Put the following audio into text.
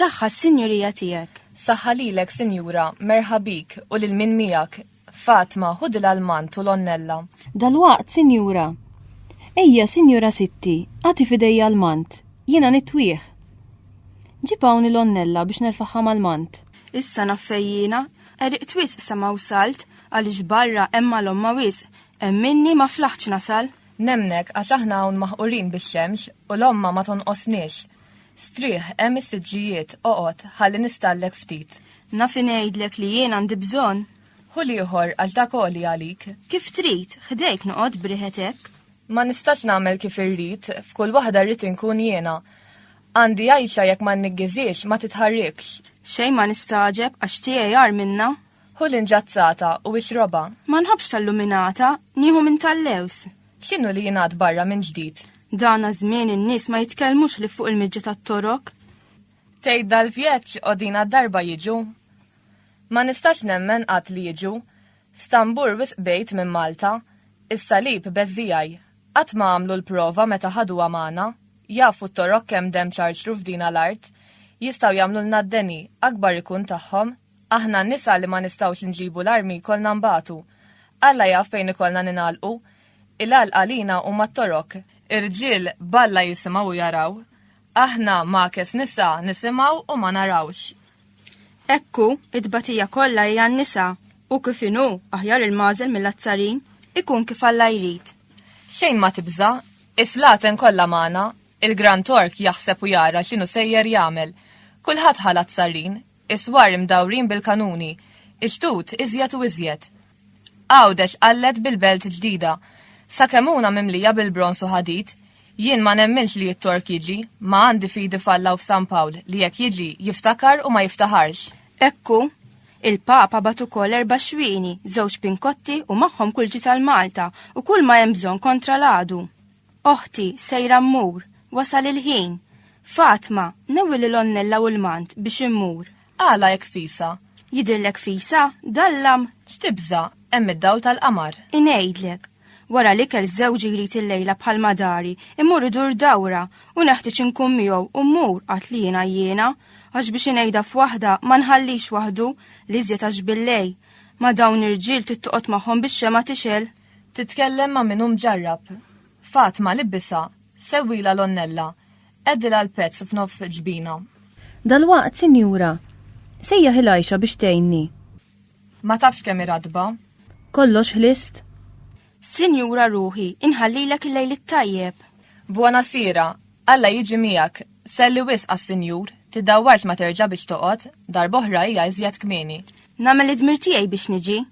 Saħħa s-sinjurija tiegħek. Saħħa lilek, Sinjura, merħabik u lil min miegħek, Fatma, ħudi l-almand u l-onnella. Dalwaqt, sinjura. Ejja, sinjura sitti, agħti f'idejja almand. Jiena nitwih. Ġib hawn il-onnella biex nerfagħha mal-mand. Issa naf fejn jiena. Għeriqt wisq sama wsalt, għaliex barra hemm malomma wisq. Emminni ma flaħtx nasal. Nemmnek, għax aħna hawn maħqurin bix-xemx u l-omma ma tonqosniex. Strieħ, hemm is-siġġijiet, oqgħod, ħalli nistallek ftit. Naf ingħidlek li jien għandi bżonn. Ħu l-ieħor għal ta' koli għalik. Kif trid, ħdejk noqgħod b'riħet hekk. Ma nistax nagħmel kif irrid, f'kull waħda rrid inkun jiena. Għandi għajxa jekk ma nniggiziex, ma titħarrikx. Xejn ma nistagħġeb għax tiegħi agħar minnha. Ħu l-inġazzata u ixrobha. Ma nħobbx tal-luminata, nieħu minn tal-lewż. X'inhu li jingħad barra minn ġdid? Dana żmien in-nies ma jitkellmux li fuq il-miġġa tat-torok. Tgħid dal-vjeġġ qodina darba jiġu. Ma nistax nemmen qatt li jiġu. Stambur wisq bgħid minn Malta. Is-salib beżżiegħi. Qatt ma għamlu l-prova meta ħaduha magħna. Jafu t-torok kemm demm ċarċru f'dina l-art. Jistgħu jagħmlulna d-deni, akbar ikun tagħhom. Aħna n-nisa li ma nistgħux inġibu l-armi jkollna nbatu. Alla jaf fejn ikollna ningħalqu. Il-għalq għalina huma t-Torok. Ir-rġiel b'Alla jisimgħu u jaraw. Aħna ma'kes nisa nisimgħu u ma narawx. Hekk hu, it-tbatija kollha hi għan-nisa, u kif inhu aħjar il-magħżel mill-azzarin, ikun kif Alla jrid. Xejn ma tibża', is-slaten kollha magħna, il-Gran Tork jaħseb u jara x'inhu sejjer jagħmel. Kulħadd ħa l-azzarrin, Is-swar imdawrin bil-kanuni. Ix-xtut iżjed u iżjed. Għawdex qallet bil-belt ġdida. Sakemuna mimlija bil-bronż u ħadid. Jien ma nemminx li t-Tork jiġi, ma għandi fidi f'Alla u f'San Pawl li jekk jiġi jiftakar u ma jiftaħarx. Hekk hu. Il-Papa bagħat ukoll erba' xwieni, żewġ pinkotti u magħhom kulġi tal-Malta u kull ma hemm bżonn kontra l-għadu. Oħti, sejra mmur, wasal il-ħin. Fatma, newi lil Onnella u l-mant biex immur. Għala hekk fisa? Jidhirlek fisa, dallam? X'tibża', hemm id-dawl tal-qamar. Ingħidlek. Wara l-ikel żewġi jrid il-lejla bħal madari, immur idur dawra u neħtieġ inkun miegħu u mmur qatt li jiena jiena, għax biex ingħidha f'waħda ma nħallix waħdu li żjed għax billej. Ma dawn irġiel trid toqgħod magħhom bix-xema tixel. Titkellem ma' min hu mġarrab. Fatma, libbisha, sewwilha l-onnella, qegħdilha l-pezz f'nofs il-ġbina. Dalwaqt, sinjura. Sejjaħ il-għajxa biex tgħinni. Ma tafx kemm hi ratba. Kollox ħlist? Sinjura ruħi, inħallilek il-lejl it-tajjeb. Buona sera, Alla jiġi miegħek. Selli wisq għas-sinjur, tiddawwarx ma terġa' biex toqgħod, darb'oħra hija iżjed kmieni. Nagħmel id-dmir tiegħi biex niġi.